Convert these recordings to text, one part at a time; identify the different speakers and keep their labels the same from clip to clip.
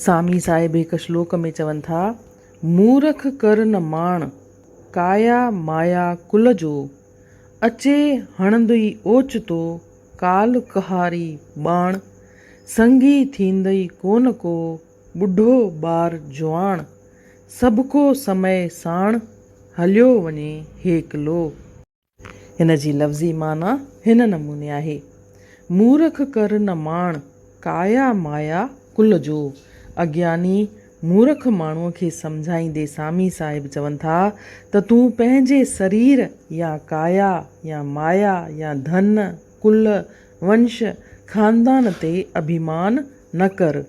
Speaker 1: سامي صاحب هڪ شلوڪ ۾ چون ٿا، مورک ڪر نه ماڻ، ڪايا مايا ڪل جو، اچي هڻندئي اوچتو، ڪال ڪهاري ٻاڻ، سنگي ٿيندئي ڪونه ڪو، ٻڍو ٻار جواڻ، سڀڪو سمئي ساڻ، هليو وڃي هيڪلو. ان جي لفظي معنيٰ هن نموني آهي، مورک ڪر نه ماڻ، ڪايا مايا ڪل جو. اگياني مورک ماڻهوء کي سمجهائيندي سامي صاحب چون ٿا ته تون پنهنجي سرير يا ڪايا يا مايا يا ڌن، ڪل، ونش، خاندان تي اڀيمان نه ڪر.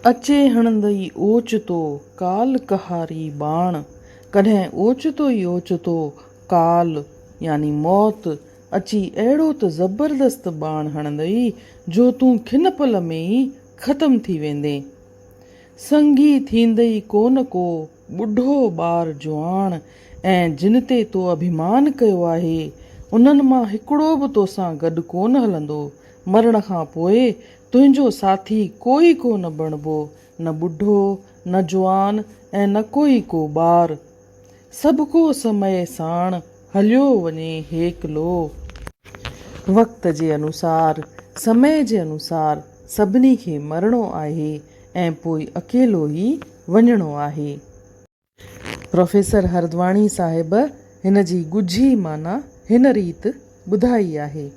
Speaker 1: اچي هڻندئي اوچتو ڪال ڪهاري ٻاڻ، ڪڏهن اوچتو ئي اوچتو ڪال يعني موت اچي اهڙو ته زبردست ٻاڻ هڻندئي جو تون کن پل ۾ ئي ختم ٿي ويندين. سنگي ٿيندئي ڪو نه ڪو ٻڍو ٻار جواڻ ۽ جن تي تو اڀيمان ڪيو آهي، انهن مان هڪڙو به توسان گڏ ڪونه هلندو، مرڻ کان پوء تنهنجو ساٿي ڪوئي ڪو نه بڻبو، نه ٻڍو، نه جوان ۽ نه ڪوئي ڪو ٻار. سڀڪو سمئي ساڻ هليو وڃي هيڪلو. وقت جي انوسار، سمئي جي انوسار سڀني کي مرڻو آهي ۽ پوء اڪيلو ئي وڃڻو آهي. پروفيسر هردواڻي صاحب هن جي ڳجهي معنيٰ هن ريت ٻڌائي آهي،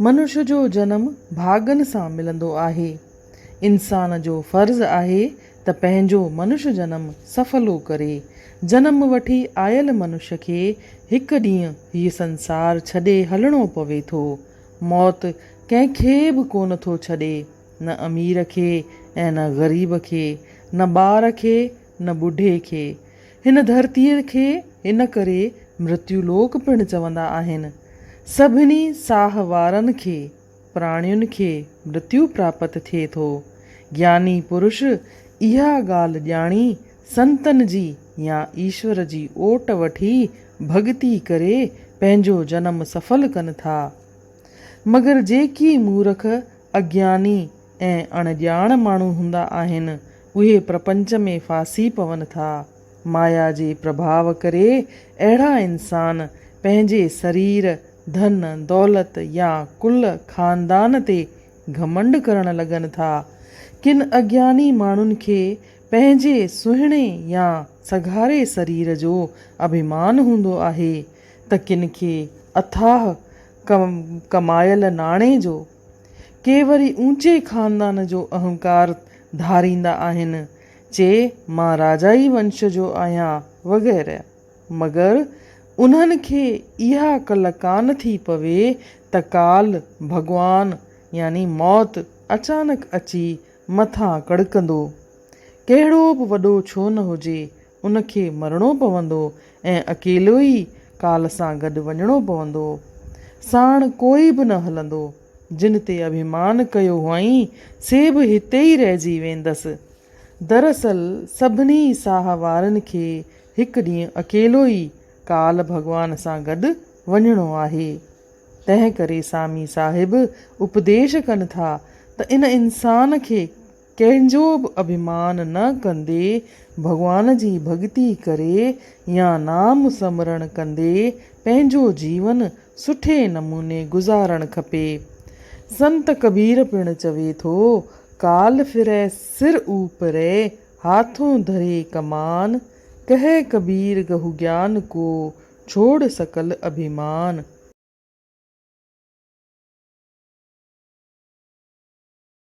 Speaker 1: منش جو جنم ڀاڳن سان ملندو آهي. انسان جو فرض آهي ته پنهنجو منش جنم سڦلو ڪري. جنم وٺي آيل منش کي هڪ ڏينهن هيء سنسار ڇڏي هلڻو پوي ٿو. موت ڪنهن کي به ڪونه ٿو ڇڏي. نه امير کي ۽ نه غريب کي، نه ٻار کي نه ٻڍي کي. هن ڌرتيء کي ان ڪري مرتيو لوڪ پڻ چوندا آهن. سڀني ساهه وارن کي، پراڻين کي، مرتيو پراپت ٿئي ٿو. گياني پرش اها ڳالهه ڄاڻي، سنتن جي يا ايشور جي اوٽ وٺي، ڀڳتي ڪري، پنهنجو جنم سڦل ڪن ٿا. مگر جيڪي مورک، اگياني ۽ اڻ ڄاڻ ماڻهو هوندا آهن، اهي پرپنچ ۾ ڦاسي پون ٿا. مايا جي پرڀاء ڪري اهڙا انسان پنهنجي سرير، ڌن، دولت يا ڪل، خاندان تي گهمنڊ ڪرڻ لڳن ٿا. ڪن اگياني ماڻهن کي پنهنجي سهڻي يا سگهاري سرير جو اڀيمان هوندو آهي. ته ڪن کي اٿاهه ڪمايل ناڻي جو، ڪي وري اوچي خاندان جو اهنڪار ڌاريندا آهن، چي مان راجائي ونش جو آهيان وغيره، مگر انهن کي اها عقل ڪانه ٿي پوي ته ڪال ڀڳوان يعني موت اچانڪ اچي مٿان ڪڙڪندو، ڪهڙو به وڏو ڇو نه هجي، ان کي مرڻو پوندو ۽ اڪيلو ئي ڪال سان گڏ وڃڻو پوندو. ساڻ ڪوئي به نه هلندو. جن تي اڀيمان ڪيو هئائين، سي به هتي ئي رهجي ويندس. دراصل سڀني ساهه وارن کي هڪ ڏينهن اڪيلو ئي ڪال ڀڳوان سان گڏ وڃڻو آهي. تنهن ڪري سامي صاحب اپديش ڪن ٿا ته ان انسان کي ڪنهن جو به اڀيمان نه ڪندي ڀڳوان جي ڀڳتي ڪري يا نام سمرڻ ڪندي پنهنجو جيون سٺي نموني گذارڻ کپي. سنت ڪبير پڻ چوي ٿو، ڪال ڦرئي سر اوپرئي، هاٿون ڌري ڪمان، ڪهي ڪبير گهو گيان ڪو، ڇوڙ سڪل اڀيمان.